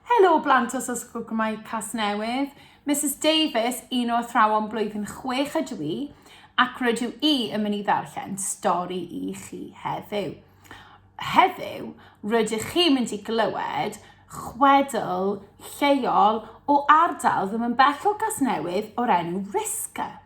Helo blant os oes Ysgol Gymraeg Casnewydd. Misus Davies, un o athrawon blwyddyn chwech ydw i, ac rydw i yn mynd i ddarllen stori i chi heddiw. Heddiw, rydych chi'n mynd i glywed chwedl lleol o ardal ddim yn bell o Gasnewydd o'r enw Risca.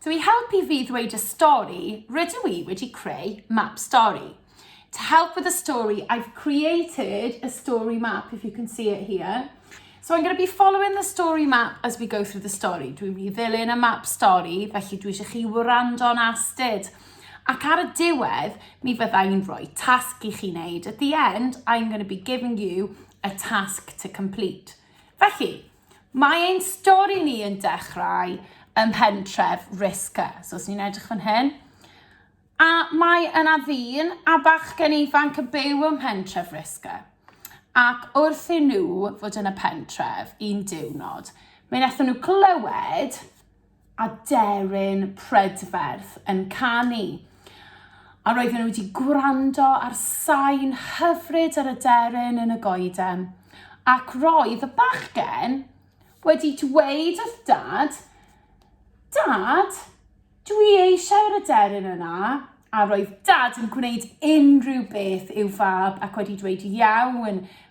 So i helpu fi ddweud y stori, rydw i wedi creu map stori. To help with the story, I've created a story map, if you can see it here. So I'm going to be following the story map as we go through the story. Dwi'n mynd i ddilyn y map stori, felly dwi eisiau chi wrando'n astud. Ac ar y diwedd, mi fydda i'n rhoi tasg i chi wneud. At the end, I'm going to be giving you a task to complete. Felly, Mae ein stori ni yn dechrau ym mhentref Risca, so os ni'n edrych fan hyn, a mae yna ddyn a bachgen ifanc yn byw ym mhentref Risca. Ac wrth i nhw fod yn y pentref un diwrnod, mi wnaethon nhw glywed aderyn prydferth yn canu. A roedden nhw wedi gwrando ar sain hyfryd yr aderyn yn y goeden. Ac roedd y bachgen wedi dweud wrth dad, Dad, dwi eisiau'r aderyn yna. A roedd dad yn gwneud unrhyw beth i'w fab ac wedi dweud iawn,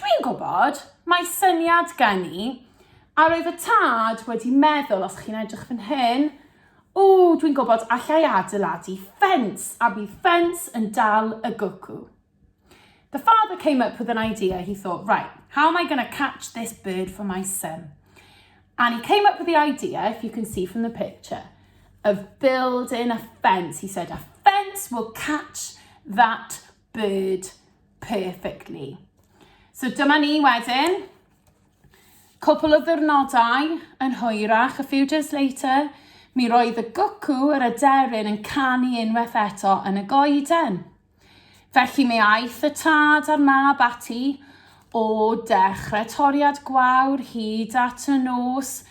Dwi'n gwybod, mae syniad gen i, a roedd y tad wedi meddwl, os chi'n edrych fan hyn, o, dwi'n gwybod, allai adeiladu ffens, a bydd ffens yn dal y gwcw. The father came up with an idea. He thought, right, how am I going to catch this bird for my son? And he came up with the idea, if you can see from the picture, of building a fence. He said, a fence will catch that bird perfectly. So dyma ni wedyn. Cwpl o ddwrnodau yn hwyrach, a few days later, mi roedd y gwcw yr aderyn yn canu unwaith eto yn y goeden. Felly mi aeth y tad a'r mab ati, O dechrau toriad gwawr hyd at y nos,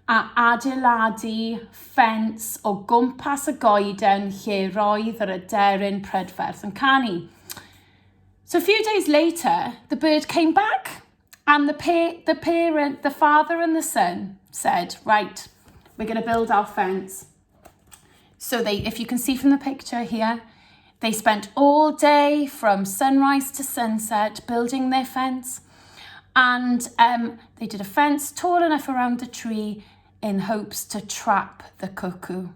a adeiladu ffens o gwmpas y goeden lle roedd yr aderyn prydferth yn canu. So a few days later, the bird came back, and the, pa the parent, the father and the son said, right, we're going to build our fence. So they, if you can see from the picture here, they spent all day from sunrise to sunset building their fence. And um, they did a fence tall enough around the tree in hopes to trap the cuckoo.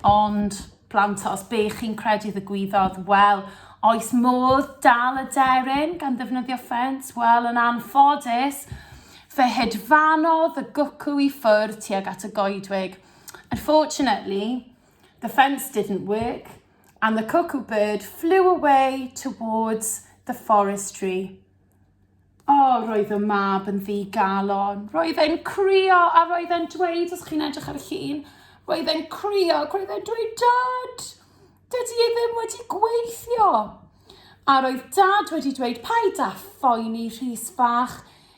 Ond, plant, os be chi'n credu ddigwyddodd, wel, oes modd dal y deryn gan ddefnyddio ffens? Wel, yn anffodus, fe hedfanodd y gwcw i ffwrdd tuag at y goedwig. Unfortunately, the fence didn't work and the cuckoo bird flew away towards the forestry. O, oh, roedd y mab yn ddi galon. Roedd e'n crio a roedd e'n dweud, os chi'n edrych ar y llun, roedd e'n crio ac roedd e'n dweud, Dad, dydy e ddim wedi gweithio. A roedd dad wedi dweud, paid â phoeni Rhys fach,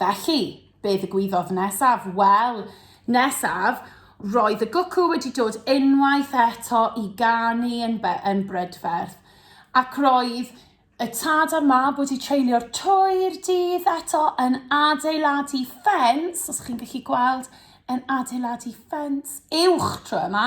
Felly, be ddigwyddodd nesaf? Wel, nesaf, roedd y gwcw wedi dod unwaith eto i ganu yn, yn brydferth, ac roedd y tad a'r mab wedi treulio'r twy'r dydd eto yn adeiladu ffens, os chi'n gallu gweld, yn adeiladu ffens uwch tro yma.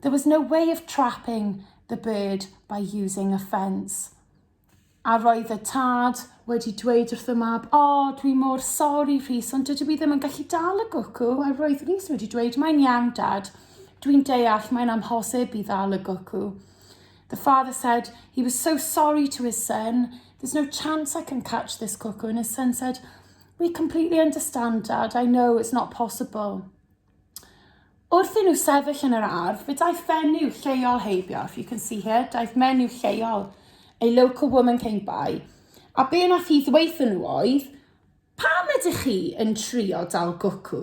There was no way of trapping the bird by using a fence. A roedd y tad wedi dweud wrth y mab, o, oh, dwi mor sori Rhys, ond dydw i ddim yn gallu dal y gwcw. A roedd Rhys wedi dweud, mae'n iawn dad, dwi'n deall, mae'n amhosib i ddal y gwcw. The father said he was so sorry to his son, there's no chance I can catch this cuckoo. And his son said, we completely understand, Dad, I know it's not possible. Wrth i nhw sefyll yn yr ardd, fe daeth fenyw lleol heibio, if you can see here, daeth menyw lleol, a local woman came by, a be nath hi ddweithio nhw oedd, pam ydych chi yn trio dal gwcw?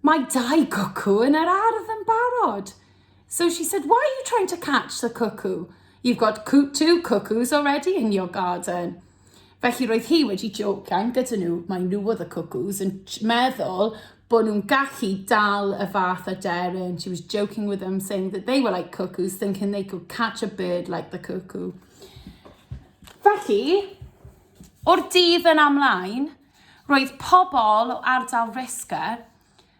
Mae dau gwcw yn yr ardd yn barod. So she said, why are you trying to catch the cuckoo? You've got two cuckoos already in your garden. Felly roedd hi wedi jocian gyda nhw, maen nhw oedd y cwcws, yn meddwl bod nhw'n gallu dal y fath aderyn. She was joking with them, saying that they were like cuckoos, thinking they could catch a bird like the cuckoo. Felly, o'r dydd yn amlaen, roedd pobl o ardal Risca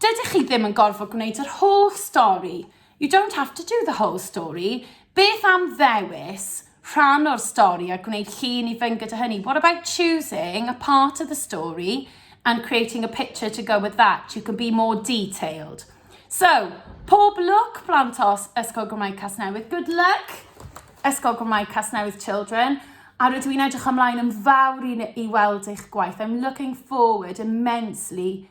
Dydych chi ddim yn gorfod gwneud yr holl stori, you don't have to do the whole story, beth am ddewis rhan o'r stori a gwneud llun i fynd gyda hynny, what about choosing a part of the story and creating a picture to go with that, you can be more detailed. So, pob lwc blant os Ysgol Gymraeg Casnewydd, good luck Ysgol Gymraeg Casnewydd Children, a rydw i'n edrych ymlaen yn fawr i, i weld eich gwaith. I'm looking forward immensely